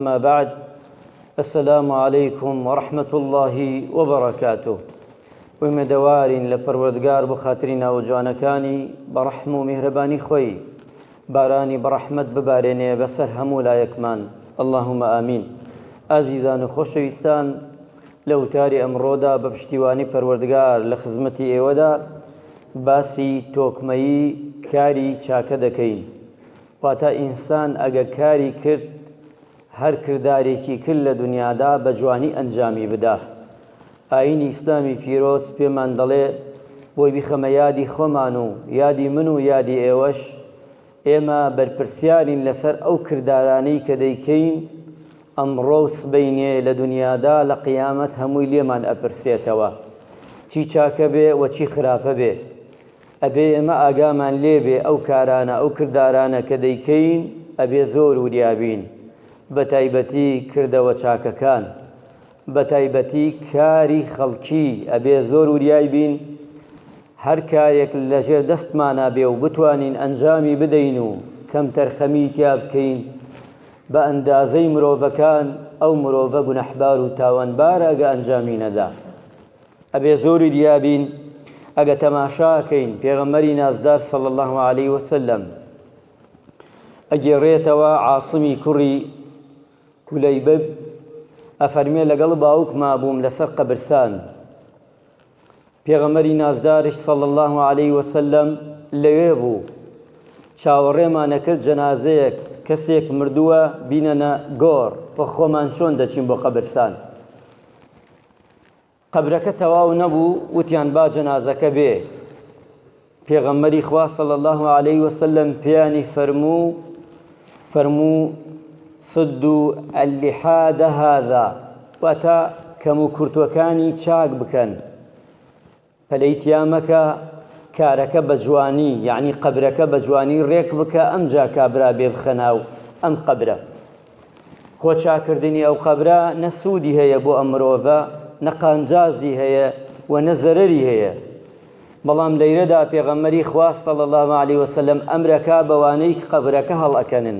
اما بعد السلام علیکم ورحمة اللە وبرکاته ئومێدەوارین لە پەروەردگار بۆ خاتری ناوە جوانەکانی بە ڕەحم و میهرەبانی خۆی بارانی بە ڕەحمەت ببارێنێ بەسەر هەموو لایەکمان اللهم آمین ئازیزان و خۆشەویستان لە وتاری ئەمڕۆدا بە پشتیوانی پەروەردگار لە خزمەتی ئێوەدا باسی تۆکمەیی کاری چاکە دەکەین واتە ئینسان ئەگە کاری کرد هەر کردارێکی کرد لە دنیادا بە جوانی ئەنجامی بدا ئاینی ئیسلامی پیرۆز پێمان دەڵێ بۆی بیخەمە یادی خۆمان و یادی من و یادی ئێوەش ئێمە بەرپرسیارین لەسەر ئەو کردارانەی کە دەیکەین ئەمڕۆ و سبەینێ لە دنیادا لە قیامەت هەمووی لێمان ئەپرسێتەوە چی چاکە بێ و چی خراپە بێ ئەبێ ئێمە ئاگامان لێبێ ئەو کارانە ئەو کردارانە کە دەیکەین ئەبێ زۆر وریا بین بەتایبەتی کردەوە چاکەکان بەتایبەتی کاری خەڵکی ئەبێ زۆر وریای بین هەر کارێک لەژێر دەستمانە بێ و بتوانین ئەنجامی بدەین و کەمتەرخەمی تیا بکەین بە ئەندازەی مرۆڤەکان ئەو مرۆڤە گونەحبار و تاوانبارە گە ئەنجامی نەدا ئەبێ زۆر وریا بین ئەگە تەماشا کەین پێغەمبەری نازدار صلی الله علیه وسلم ئەگێڕێتەوە عاصمی کوڕی کولەیبب ئەفەرمێ لەگەڵ باوک مابووم لەسەر قەبرسان پێغەمەری نازدارش صلی الله عليه وسلم لەوێ بوو چاوەڕێمانەکرد جەنازەیەک کەسێک مردووە بینەنە گۆڕ و خۆمان چۆن دەچین بۆ قەبرسان قەبرەکە تەواو نەبوو وتیان با جەنازەکە بێ پێغەمبەری خوا صلی الله علیه وسلم پیانی فرموو فرموو سدو اللحاد هذا واتە کەم و کورتوەکانی چاک بکەن پەلەی تیا مەکە کارەکە بە جوانی یەعنی قەبرەکە بە جوانی ڕێک بکە ئەمجا کابرا بێ بخە ناو ئەم قەبرە خۆ چاکردنی ئەو قەبرە نە سوودی هەیە بۆ ئەم مرۆڤە نە قانجازی هەیە و نە زەرەری هەیە بەڵام لەیرەدا پێغەمەری خواستە لە الله عليه وسلم ئەمرەکە بەوانەی قەبرەکە هەڵ ئەکەنن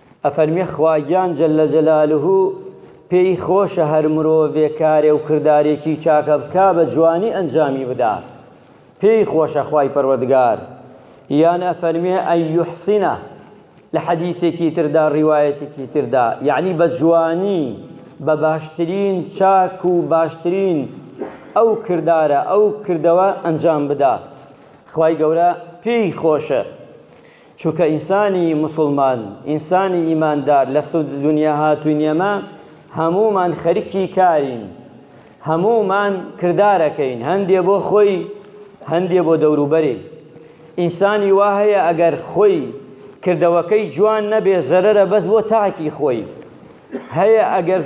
ئەفەرمێ خواگیان جل جلالە پێی خۆشە هەر مرۆڤێ کارێ و کردارێکی چاکە بکا بە جوانی ئەنجامی بدا پێی خۆشە خوای پەروەردگار یان ئەفەرمێ ئەی یحسینە لە حەدیثێکی تردا ڕیوایەتێکی تردا یعنی بە جوانی بە باشترین چاک و باشترین ئەو کردارە ئەو کردەوە ئەنجام بدا خوای گەورە پێی خۆشە چونکە ئینسانی موسڵمان ئینسانی ئیماندار لە سود دنیا هاتوین ئێمە هەموومان خەریکی کارین هەموومان کردارەکەین هەندێ بۆ خۆی هەندێ بۆ دەوروبەرێ ئینسانی وا هەیە ئەگەر خۆی کردەوەکەی جوان نەبێ زەرەرە بەس بۆ تاکی خۆی هەیە ئەگەر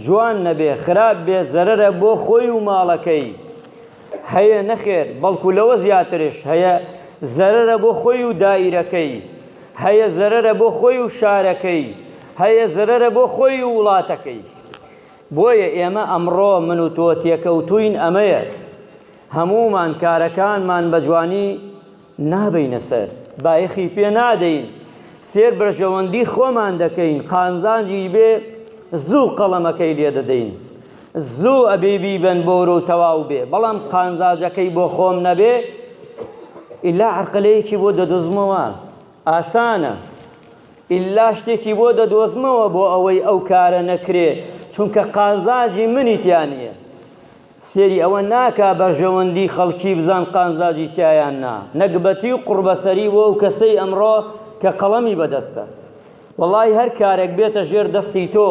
جوان نەبێ خراپ بێ زەرەرە بۆ خۆی و ماڵەکەی هەیە نەخێر بەڵکو لەوە زیاترش هەیە زەرەرە بۆ خۆی و دایرەکەی هەیە زەرەرە بۆ خۆی و شارەکەی هەیە زەرەرە بۆ خۆی و وڵاتەکەی بۆیە ئێمە ئەمڕۆ من و تۆ تێکەوتوین ئەمەیە هەمومان کارەکانمان بە جوانی نابەینە سەر، بایەخی پێ نادەین، سێر بەرژەوەندی خۆمان دەکەین، قانزانجیش بێ زوو قەڵەمەکەی لێ دەدەین، زوو ئەبێ بیبەن بۆرە و تەواو بێ، بەڵام قانزاجەکەی بۆ خۆم نەبێ، ئیلا عەرقەلەیەکی بۆ دەدۆزمەوە، ئاسانە، ئیلا شتێکی بۆ دەدۆزمەوە بۆ ئەوەی ئەو کارە نەکرێ، چونکە قانزانجی منی تیا نییە. سەیری ئەوە ناکا بەرژەوەندی خەڵکی بزان قازانجی تیا یان نا، نەگبەتی و قوڕبەسەری بۆ ئەو کەسەی ئەمڕۆ کە قەڵەمی بەدەستە. وەڵاهی هەر کارێک بێتە ژێر دەستی تۆ،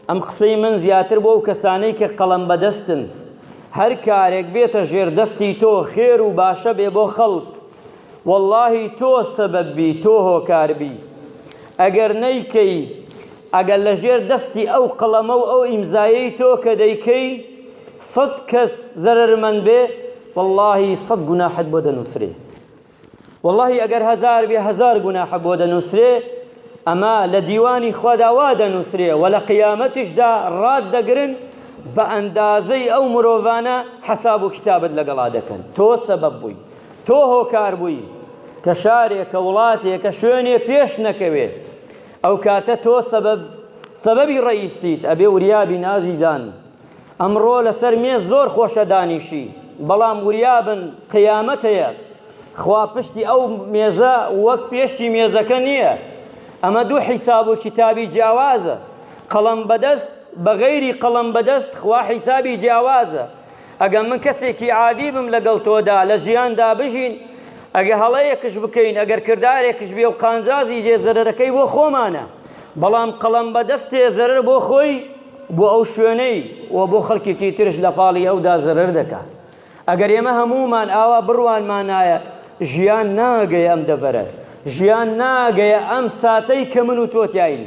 ئەم قسەی من زیاتر بۆ ئەو کەسانەی کە قەڵەم بەدەستن، هەر کارێک بێتە ژێر دەستی تۆ خێر و باشە بێ بۆ خەڵک، وەڵاهی تۆ سەبەب بی تۆ هۆکار بی ئەگەر نەیکەی ئەگەر لە ژێر دەستی ئەو قەڵەمە و ئەو ئیمزایەی تۆ کە دەیکەی سەد کەس زەرەرمەند بێ وەڵاهی سەد گوناحت بۆ دەنووسرێ وەڵاهی ئەگەر هەزار بێ هەزار گوناحە بۆ دەنووسرێ ئەمە لە دیوانی خوادا وا دەنووسرێ و لە قیامەتیشدا ڕات دەگرن بە ئەندازەی ئەو مرۆڤانە حەساب و کتابت لەگەڵا دەکەن تۆ سەبەب بووی تۆ هۆکار بووی کە شارێکە وڵاتێکە شوێنێ پێش نەکەوێ ئەو کاتە تۆ سەبەب سەبەبی ڕئیسیت ئەبێ وریابین ئازیزان ئەمڕۆ لەسەر مێز زۆر خۆشە دانیشی بەڵام وریابن قیامەت هەیە خوا پشتی ئەو مێزە وەک پێشتی مێزەکە نییە ئەمە دوو حیساب و کتابی جیاوازە قەڵەم بەدەست بە غەیری قەڵەم بەدەست خوا حیسابی جیاوازە ئەگە من کەسێکی عادی بم لەگەڵ تۆدا لە ژیاندا بژین ئەگە هەڵەیەکش بکەین ئەگەر کردارێکش بێ و قانجازی جێ زەرەرەکەی بۆ خۆمانە بەڵام قەڵەم بەدەستێ زەرەر بۆ خۆی بۆ ئەو شوێنەی و بۆ خەڵکێکی ترش لە پاڵی ئەودا زەرەر دەکا ئەگەر ئێمە هەموومان ئاوا بڕوانمانایە ژیان ناگەی ئەم دەبەرە ژیان ناگەیە ئەم ساتەی کە من و تۆتیاین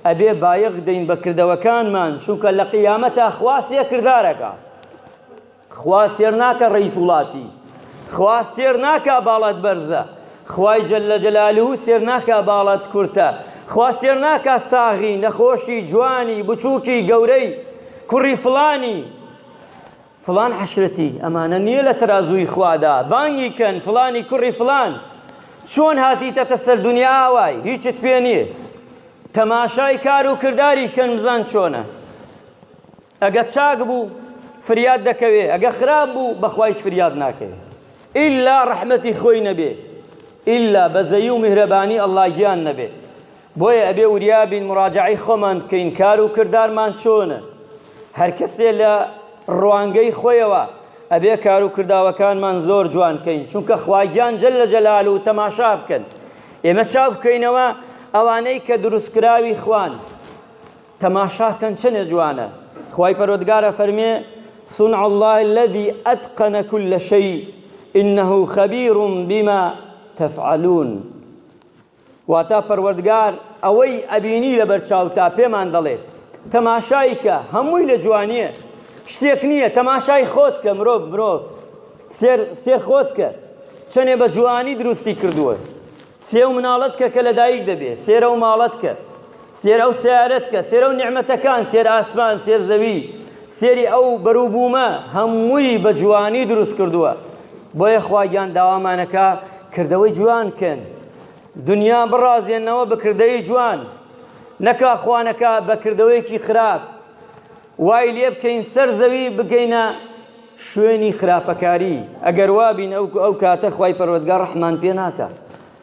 ئەبێ بایەخ دەین بە کردەوەکانمان چونکە لە قیامەتا خوا سێ کردارەکە خوا سێر ناکە ڕئیس وڵاتی خوا سێر ناکا باڵات بەرزە خوای جل لە جەلالو سێر ناکا باڵات کورتە خوا سێر ناکا ساغی نەخۆشی جوانی بچووکی گەورەی کوڕی فڵانی فڵان عەشرەتی ئەمانە نیە لە تەرازووی خوادا بانگی کەن فڵانی کوڕی فڵان چۆن هاتیتەتە سەر دنیا ئاوای هیچت پێ نییە تەماشای کار و کرداری کەن بزان چۆنە ئەگە چاک بوو فریاد دەکەوێ ئەگە خراپ بوو بەخوایش فریاد ناکەوێ ئیلا ڕەحمەتی خۆی نەبێ ئیلا بەزەی و میهرەبانی ئەڵڵا گیان نەبێ بۆیە ئەبێ وریا بین مراجەعەی خۆمان بکەین کار و کردارمان چۆنە، هەر کەسێ لە ڕوانگەی خۆیەوە ئەبێ کار و کرداوەکانمان زۆر جوان کەین چونکە خوا گیان جل جلالە تەماشا بکەن ئێمە چاو بکەینەوە ئەوانەی کە دروست کراوی خوان تەماشا کەن چەنێ جوانە خوای پەرۆدگارە فەرمێ صنع الله الذي أتقن كل شيء إنه خبير بما تفعلون واتە، پەروەردگار ئەوەی ئەبینی لەبەر چاوتە، پێمان دەڵێ، تەماشای کە، هەمووی لە جوانییە، شتێک نییە، تەماشای خۆت کە، مرۆڤ، مرۆڤ، سێر، سێر خۆت کە، چەنێ بە جوانی دروستی کردووە، سێ و مناڵت کە کە لە دایک دەبێ، سێرە و ماڵت کە. سێر ئەو سەیارەت کە، سێر ئەو نیعمەتەکان، سێر ئاسمان، سێر زەوی، سێری ئەو بەروبوومە هەمووی بە جوانی دروست کردووە. بۆیە خواگیان داوامانەکا کردەوەی جوان بکەین. دنیا بڕازێنەوە بە کردەی جوان. نەکا خوا نەکا بە کردەوەیەکی خراپ وای لێ بکەین سەر زەوی بگەینە شوێنی خراپەکاری. ئەگەر وابین ئەو کاتە خوای پەروەردگار ڕەحمان پێ ناکا.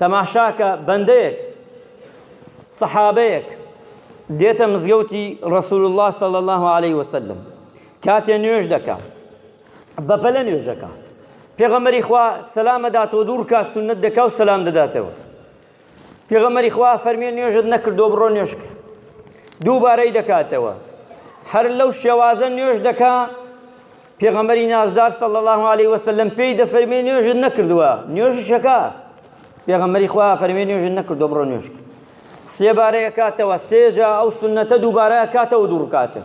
تەماشاکە بەندەیەک، سەحابەیەک، دێتە مزگەوتی ڕەسول اللە صلی اللە علیە وسلم کاتێ نوێژ دەکا بەپەلە نوێژەکە پێغەمەری خوا سەلام دەداتەوە دوو ڕکات سنت دەکا و سەلام دەداتەوە پێغەمەری خوا فەرمیێ نوێژت نەکردو بڕۆ نوێژکە دووبارەی دەکاتەوە هەر لەو شێوازە نوێژ دەکا پێغەمبەری نازدار صلی اللە علیه وسلم پێی دەفەرمێ نوێژت نەکردووە نوێژشەکە پێغەمبەری خوا فەرمێ نوێژت نەکردو بڕۆ نوێژ سێبارە ئەکاتەوە سێجا ئەو سنەتە دووبارە ئەکاتەوە دوو ڕکاتە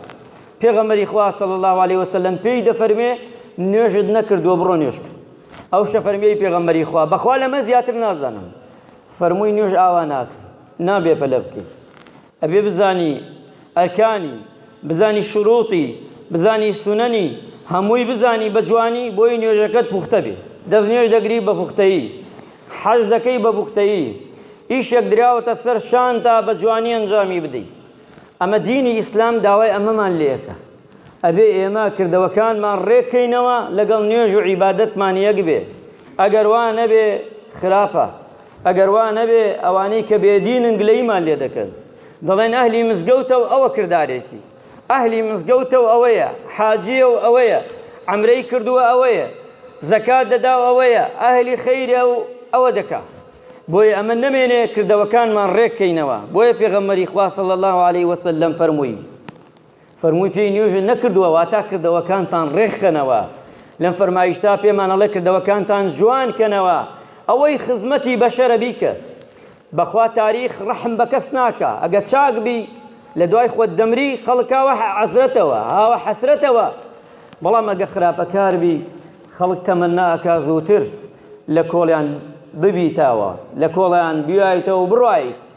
پێغەمبەری خوا صلی اللە علیه وسلم پێی دەفەرمێ نوێژت نەکردووە بڕۆ نوێژ ئەو شەفەرمیی پێغەمبەری خوا بەخوا لەمە زیاتر نازانم فەرمووی نوێژ ئاوا ناکە نابێ پەلە بکەیت ئەبێ بزانی ئەرکانی بزانی شروطی بزانی سوننی هەمووی بزانی بە جوانی بۆی نوێژەکەت پوختە بێ دەست نوێژ دەگری بە پوختەیی حەج دەکەی بە پوختەیی ئیشێک دراوەتە سەر شانتا بە جوانی ئەنجامی بدەی ئەمە دینی ئیسلام داوای ئەمەمان لێ ئەکا ئەبێ ئێمە کردەوەکانمان ڕێک کەینەوە لەگەڵ نوێژ و عیبادەتمان یەک بێ ئەگەر وا نەبێ خراپە ئەگەر وا نەبێ ئەوانەی کە بێدینن گلەیمان لێ دەکەن دەڵێن ئەهلی مزگەوتە و ئەوە کردارێتی ئەهلی مزگەوتە و ئەوەیە حاجیە و ئەوەیە ئەمرەی کردووە ئەوەیە زەکات دەدا و ئەوەیە ئەهلی خەیرە و ئەوە دەکا بۆیە ئەمە نەمێنێ کردەوەکانمان ڕێککەینەوە بۆیە پێغەمەری خوا صلی الله علیه وسلم فەرمووی فەرمووی پێی نوێژت نەکردووە واتا کردەوەکانتان ڕێکخەنەوە لەم فەرمایشتا پێمان ئەڵێ کردەوەکانتان جوان کەنەوە ئەوەی خزمەتی بەشەرە بیکە بەخوا تاریخ ڕەحم بە کەس ناکا ئەگەر چاک بی لە دوای خۆت دەمری خەڵکاوە عەزرەتەوە هاوە حەسرەتەوە بەڵام ئەگە خراپەکار بی خەڵک تەمەنا ئەکا زووتر لە کۆڵیان ببیتەوە لە کۆڵیان بیایتەوە بڕایت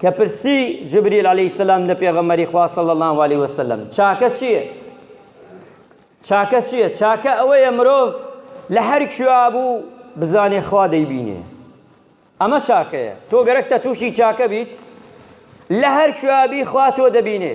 کە پرسی جبریل علیە السلام لە پێغەمبەری خوا صلی الله علیه وسلم چاکە چییە؟ چاکە چییە؟ چاکە ئەوەیە مرۆڤ لە هەر کوێا بوو بزانێ خوا دەیبینێ ئەمە چاکەیە تۆ گەرەکتە تووشی چاکە بیت لە هەر کوێابی خوا تۆ دەبینێ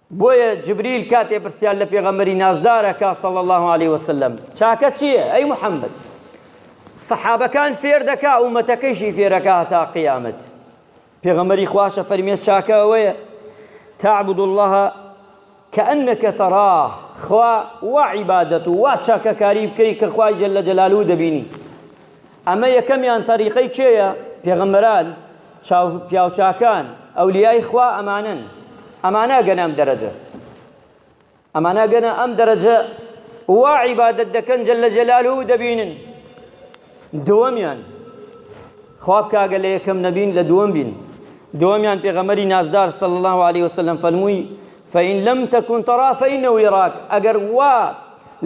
بۆیە جبریل کاتێ پرسیار لە پێغەمبەری نازدار ئەکا صلی اللە علیە وسلم چاکە چییە ئەی محمد سەحابەکان فێر دەکا ئومەتەکەیشی فێرەکە هەتا قیامەت پێغەمبەری خواشە فەرمێت چاکە ئەوەیە تعبد الله كأنك تراه خوا وعبادته وچاکەکاری بکەی کە خوای جل جلاله دەبینی ئەمە یەکەمیان تەریقەی کێیە؟ پێغەمبەران، چاو پیاوچاکان، ئەولیای خوا ئەمانەن ئەمانە گەنە ئەم دەرەجە ئەمانە گەنە ئەم دەرەجە وا عیبادەت دەکەن جل جلاله دەبینن دووەمیان خواب کاگە لە یەکەم نەبین لە دووەم بین دووەمیان پێغەمەری نازدار صلی الله عليه وسلم فەرمووی فإن لم تكن ترى فإنه يراك ئەگەر وا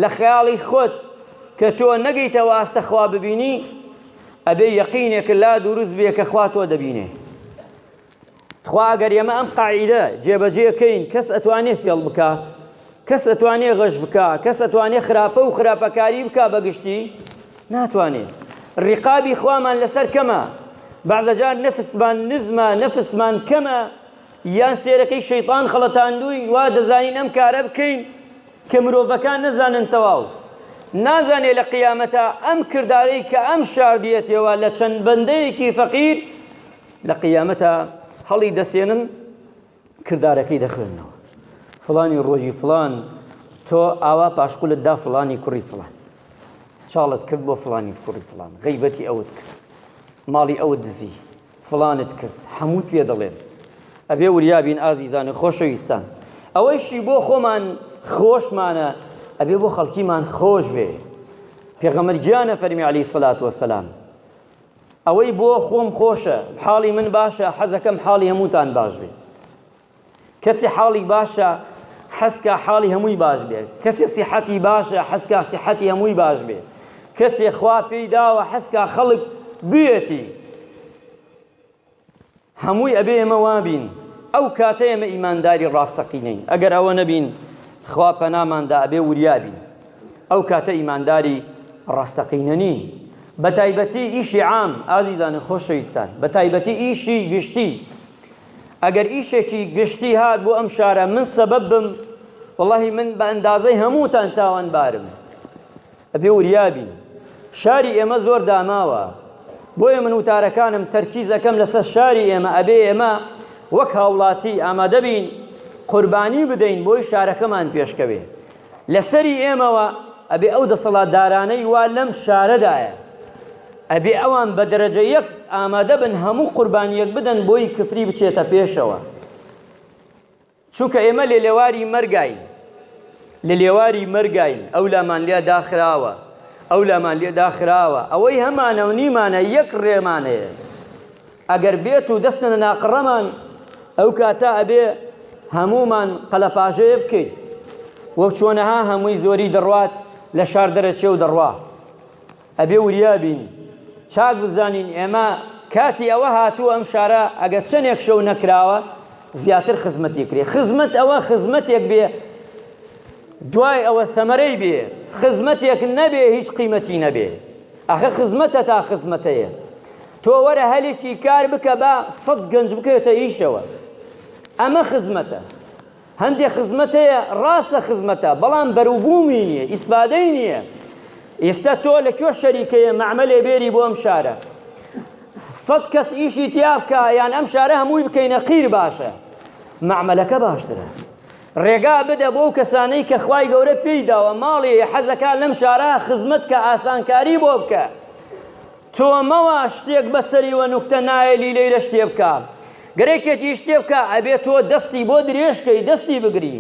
لە خەیاڵی خۆت کە تۆ نەگەیتەوە ئاستە خوا ببینی ئەبێ یەقینێک لا دروست بێ کە خوا تۆ دەبینێ تخوا ئەگەر ئێمە ئەم قاعیدە جێبەجێکەین کەس ئەتوانێ فێڵ بکە کەس ئەتوانێ غەش بکە کەس ئەتوانێ خراپە و خراپەکاری بکە بەگشتی ناتوانێ ڕقابی خوامان لەسەر کەمە بەعدەجار نەفستمان نزمە نەفستمان کەمە یان سێرەکەی شەیتان خەڵەتاندووی وا دەزانین ئەم کارە بکەین کە مرۆڤەکان نەزانن تەواو نازانێ لە قیامەتا ئەم کردارەی کە ئەم شاردیەتێوە لە چەند بەندەیەکی فەقیر لە قیامەتا هەڵی دەسێنن کردارەکەی دەخوێنەوە فلانی ڕۆژی فلان تۆ ئاوا پاشقولت دا فلانی کوڕی فلان چاڵت کرد بۆ فلانی کوڕی فلان غیبەتی ئەوت کرد ماڵی ئەو دزی فڵانت کرد هەمووت پێ دەڵێم. ئەبێ وریا بین ئازیزان و خۆشەویستان. ئەوەیشی بۆ خۆمان خۆشمانە ئەبێ بۆ خەڵکیمان خۆش بێ. پێغەمبەر گیانە فەرمی عەلەیهی سەلات وەسەلام ئەوەی بۆ خۆم خۆشە، حاڵی من باشە، حەزەکەم حاڵی هەمووتان باش بێ. کەسێ حاڵی باشە حەزکا حاڵی هەمووی باش بێت، کەسێ سیحەتی باشە حەزکا سیحەتی هەمووی باش بێت، کەسێ خوا پێی داوە حەزکا خەڵک بوێتی، هەمووی ئەبێ ئێمە وابین، ئەو کاتە ئێمە ئیمانداری ڕاستەقینەین، ئەگەر ئەوە نەبین خوا پەناماندا ئەبێ وریابین، ئەو کاتە ئیمانداری ڕاستەقینە نین، بەتایبەتی ئیشی عام، ئازیزانی خۆشەویستان، بەتایبەتی ئیشی گشتی، ئەگەر ئیشێکی گشتی هات بۆ ئەم شارە من سەبەب بم وەڵاهی من بە ئەندازەی هەمووتان تاوانبارم ئەبێ وریابی شاری ئێمە زۆر داماوە بۆیە من وتارەکانم تەرکیز ئەەکەم لەسەر شاری ئێمە ئەبێ ئێمە وەک هاوڵاتی ئامادەبین قوربانی بدەین بۆی شارەکەمان پێشکەوێ لە سەری ئێمەوە ئەبێ ئەو دەسەڵاتدارانەی وا لەم شارەدایە ئەبێ ئەوان بە دەرەجە یەک ئامادە بن هەموو قوربانیەک بدەن بۆی کفری بچێتە پێشەوە چونکە ئێمە لێ لێواری مەرگین لە لێواری مەرگین ئەو لامان لێ داخراوە ئەو لامان لێ داخراوە ئەوەی هەمانە و نیمانە یەک ڕێمانەیە ئەگەر بێت و دەستنە ناقڕەمان ئەو کاتە ئەبێ هەموومان قەلەپاژەیە بکەین وەک چۆنەها هەمووی زۆری دەڕوات لە شار دەرەچێ و دەڕوا ئەبێ وریابین چاک بزانین ئێمە کاتی ئەوە هاتووە ئەم شارە ئەگەر چەندێک شەو نەکراوە زیاتر خزمەتی کرێ خزمەت ئەوە خزمەتێک بێ دوای ئەوە سەمەرەی بێ خزمەتێک نەبێ هیچ قیمەتی نەبێ ئەخە خزمەتە تا خزمەتەیە تۆ وەرە هەلێکی کار بکە با سەد گەنج بکەوێتە ئیشەوە ئەمە خزمەتە هەندێک خزمەتەیە ڕاستە خزمەتە بەڵام بەروبوومی نییە ئیسفادەی نییە ئێستا تۆ لە کوێ شەریکەیە مەعمەلێ بێری بۆ ئەم شارە سەد کەس ئیشی تیا بکە یان ئەم شارە هەمووی بکەینە قیر باشە مەعمەلەکە باشترە ڕێگا بدە بۆو کەسانەی کە خوای گەورە پێی داوە ماڵیی حەزەکا لەم شارا خزمەت کە ئاسانکاری بۆ بکە تۆ مەوە شتێک بەسەری وە نوکتە نایەلی لەیرە شتێ بکا گەر یەکێتیش شتێ بکا ئەبێ تۆ دەستی بۆ درێژ کەی دەستی بگری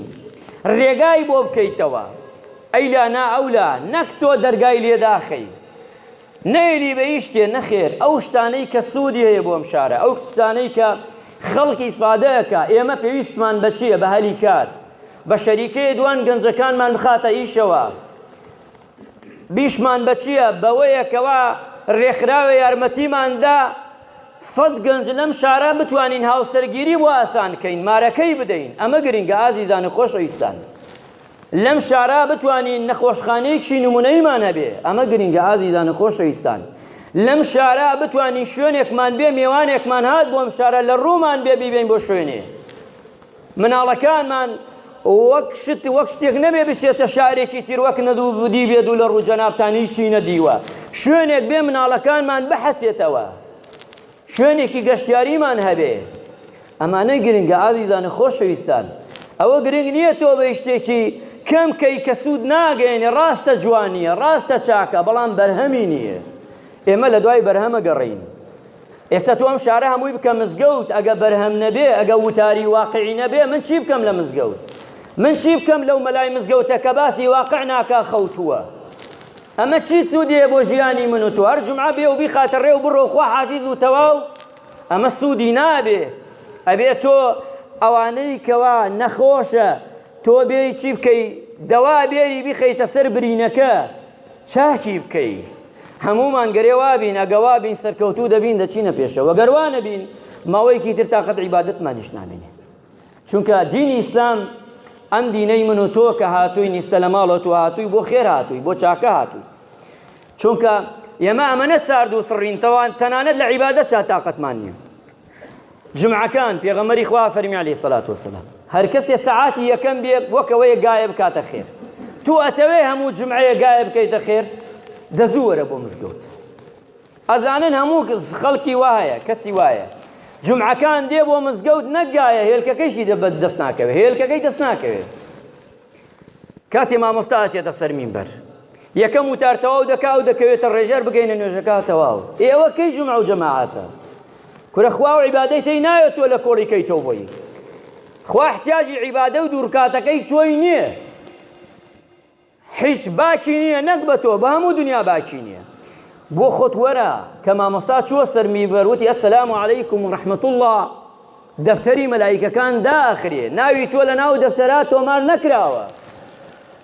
ڕێگای بۆ بکەیتەوە ئەیلا نا ئەولا نەک تۆ دەرگای لێ داخەی نەیلی بە هیچ شتێ نەخێر ئەو شتانەی کە سودی هەیە بۆ ئەم شارە ئەو شتانەی کە خەڵک ئیسفادە ئەکا ئێمە پێویستمان بە چیە بە هەلی کار بە شەریکەیە دوان گەنجەکانمان بخاتە ئیشەوە بیشمان بە چیە بەوەیە کەوا ڕێکخراوە یارمەتیمان دا سەد گەنج لەم شارە بتوانین هاوسەرگیری بۆ ئاسان کەین مارەکەی بدەین ئەمە گرنگە ئازیزان و خۆشەویستان لەم شارە بتوانین نەخۆشخانەیەکی نمونەیمان هەبێ ئەمە گرنگە ئازیزانو خۆشەویستان لەم شارە بتوانین شوێنێکمان بێ مێوانێکمان هات بۆ ئەم شارە لە ڕوومان بێ بیبین بۆ شوێنێ مناڵەکانمان وەک شت وەک شتێک نەبێ بچێتە شارێکی تر وەک نەدوو بدی بێت و لە ڕوو جەنابتان هیچی نەدیوە شوێنێک بێ مناڵەکانمان بحەسێتەوە شوێنێکی گەشتیاریمان هەبێ ئەمانە گرنگە ئازیزان و خۆشەویستان ئەوە گرنگ نیە تۆ بەی شتێکی کەم کەی کە سود ناگەیەنێ ڕاستە جوانیە ڕاستە چاکە بەڵام بەرهەمی نیە ئێمە لە دوای بەرهەمە گەڕین ئێستا تو ئەم شارە هەمووی بکە مزگەوت ئەگە بەرهەم نەبێ ئەگە وتاری واقعی نەبێ من چی بکەم لە مزگەوت من چی بکەم لەو مەلای مزگەوتە کە باسی واقع ناکا خەوتووە ئەمە چی سوودی هەیە بۆ ژیانی من و تۆ هەر جومعە بێ و بیخاتە ڕێ و بڕۆ خوا حافیز و تەواو ئەمە سوودی نابێ ئەبێ تۆ ئەوانەی کەوا نەخۆشە تۆ بێی چی بکەی دەوا بێری بخەیتە سەر برینەکە چاکی بکەی هەمومان گەرێ وابین ئەگە وابین سەرکەوتوو دەبین دەچینە پێشەوە گەروانە بین ماوەیەکی تر تااقەت عیباەتمانیش نامێنێ چونکە دینی ئیسلام ئەم دینەی من و تۆ کە هاتووی نیستە لە ماڵەوە تو هاتووی بۆ خێر هاتووی بۆ چاکە هاتووی چونکە ئێمە ئەمەە سارد و سڕینتەوان تەنانەت لە عیبادە سا تااقەتمان نییە جمعەکان پێغەمەری خوا فەرمی علی سەلات وسلام هەر کەسێ سەعاتی یەکەم بێ وەکەوەیە گایە بکاتە خێر تو ئەتەوێ هەموو جمعەیە گایە بکەیتە خێر دەزوو وەرە بۆ مزگەوت ئەزانن هەموو خەڵکی وا هەیە کەسی وایە جومعەکان دێ بۆ مزگەوت نەگایە هێلکەکەیشی دەبەت دەست ناکەوێت هێلکەکەی دەست ناکەوێت کاتی مامۆستا ئەچێتە سەر مینبەر یەکەم وتار تەواو دەکا و دەکەوێتە ڕێژەر بگەینە نوێژەکە تەواو ئێوە کەی جمع و جەماعاتە کورە خوا و عیبادەی تێی نایە تۆ لە کۆڵی کەی تۆ بۆی خوا احتیاجی عیبادە و دوورکاتەکەی تۆی نییە هیچ باکی نیە نەک بە تۆ بە هەموو دنیا باکی نیە بۆ خۆت وەرە کە مامۆستا چووە سەر میبەر وتی ئەسلام علیکم ڕحمەت الله دەفتەری مەلایکەکان داخرێ ناوی تۆ لە ناو دەفتەرا تۆمار نەکراوە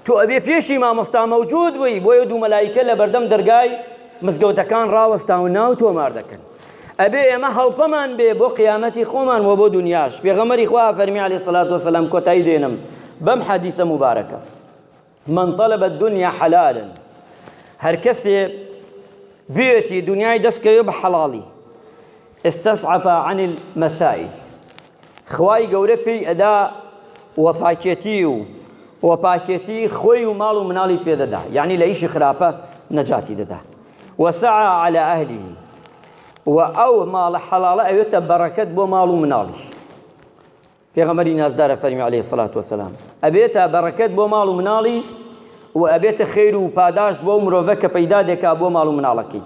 تۆ ئەبێ پێشی مامۆستا مەوجود بووی بۆیە دوو مەلایکە لە بەردەم دەرگای مزگەوتەکان ڕاوەستا و ناو تۆمار دەکەن ئەبێ ئێمە هەڵپەمان بێ بۆ قیامەتی خۆمان و بۆ دنیاش پێغەمەری خوا فەرمی علی سلات وسلام کۆتایی دێنم بەم حەدیسە مبارەکە من طلب الدنيا حلال هەر کەسێ بێتی دنیای دەستکەوێ بە حەڵاڵی استسعف عن المسائل خوای گەورە پێی ئەدا و پاکێتی و و پاکێتی خۆی و ماڵ و مناڵی پێدەدا یعنی لە ئیشی خراپە نەجاتی دەدا وسعى على أهله و ئەو ماڵە حەڵاڵە ئەوێتە بەڕەکەت بۆ ماڵ و مناڵی پێغەمبەری نازدارە فەرمی علیە سەلات وەسەلام ئەبێتە بەڕەکەت بۆ ماڵ و مناڵی و ئەبێتە خێر و پاداشت بۆ مرۆڤە کە پەیدا دەکا بۆ ماڵ و مناڵەکەی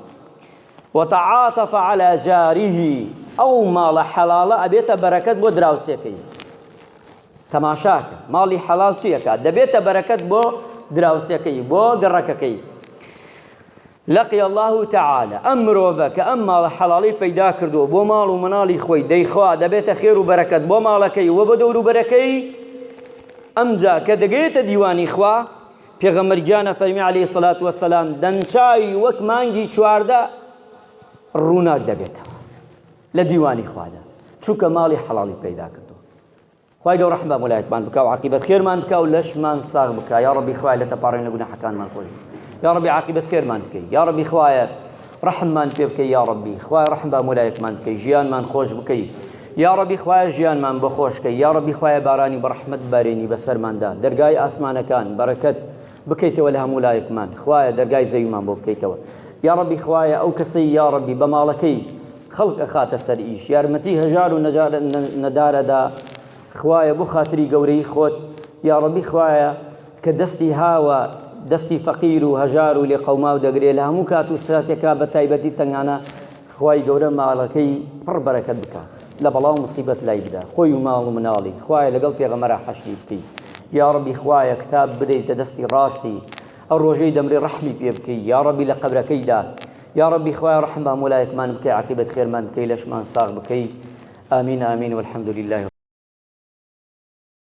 وتعاطف على جاره ئەو ماڵە حەڵاڵە ئەبێتە بەرەکەت بۆ دراوسێکەی تەماشاکە ماڵی حەڵال چیەکە دەبێتە بەرەکەت بۆ دراوسەکەی بۆ گەڕەکەکەی لقی اللە تعالی، ئەم مرۆڤە کە ئەم ماڵە حەڵاڵەی پەیدا کردووە بۆ ماڵ و مناڵی خۆی، دەیخوا دەبێتە خێر و بەرەکەت بۆ ماڵەکەی و بۆ دەوروبەرەکەی، ئەمجا کە دەگەیەتە دیوانی خوا، پێغەمبەر گیان ئەفەرمێ علیە سەلات وسلام، دەمچاوی وەک مانگی چواردە ڕووناک دەبێتەوە لە دیوانی خوادا، چونکە ماڵی حەڵاڵی پەیدا کردووە. خوای گەورە ڕەحم بە مەلایەتمان بکا و عاقیبەت خێرمان بکا و لەشمان ساغ بکا یا ڕەبی خوای لە تەپاڕین لە گوناحەکانمان خۆش یا ڕەبی عاقیبەت خێرمان بکەی یا ڕەبی خوایە ڕەحممان پێ بکەی یا ڕەبی خوای ڕەحم بە مەلایەتمان بکەی ژیانمان خۆش بکەی یا ڕەبی خوایە ژیانمان بۆ خۆشکەی یا ڕەبی خوایە بارانی بە ڕەحمەت بارێنی بەسەرماندا دەرگای ئاسمانەکان بەرەکەت بکەیتەوە لە هەموو لایەکمان خوایە دەرگای زەویمان بۆ بکەیتەوە یاڕەبی خوایە ئەو کەسەی یاڕەبی بە ماڵەکەی خەڵک ئەخاتە سەر ئیش یارمەتی هەژار و نەدارەدا خوایە بۆ خاتری گەورەی خۆت یاڕەبی خوایە کە دەستی هاوە دەستی فەقیر و هەژار و لێقەوماو دەگرێ لە هەموو کات و ساتێکا بە تایبەتی تەنگانە خوای گەورە ماڵەکەی پڕ بەرەکەت بکا لە بەڵا و موسیبەت لای بدا خۆی و ماڵ و مناڵی خوایە لەگەڵ پێغەمەرا حەشری بکەی یاڕەبی خوایە کتاب بدەیتە دەستی ڕاستی ئەو ڕۆژەی دەمرێ ڕەحمی پێ بکەی یاڕەبی لە قەبرەکەیدا یاڕەبی خوایە ڕەحم بە هەموولایەکمان بکەی عاقیبەت خێرمان بکەی لەشمان ساغ بکەی آمین آمین والحمدللە.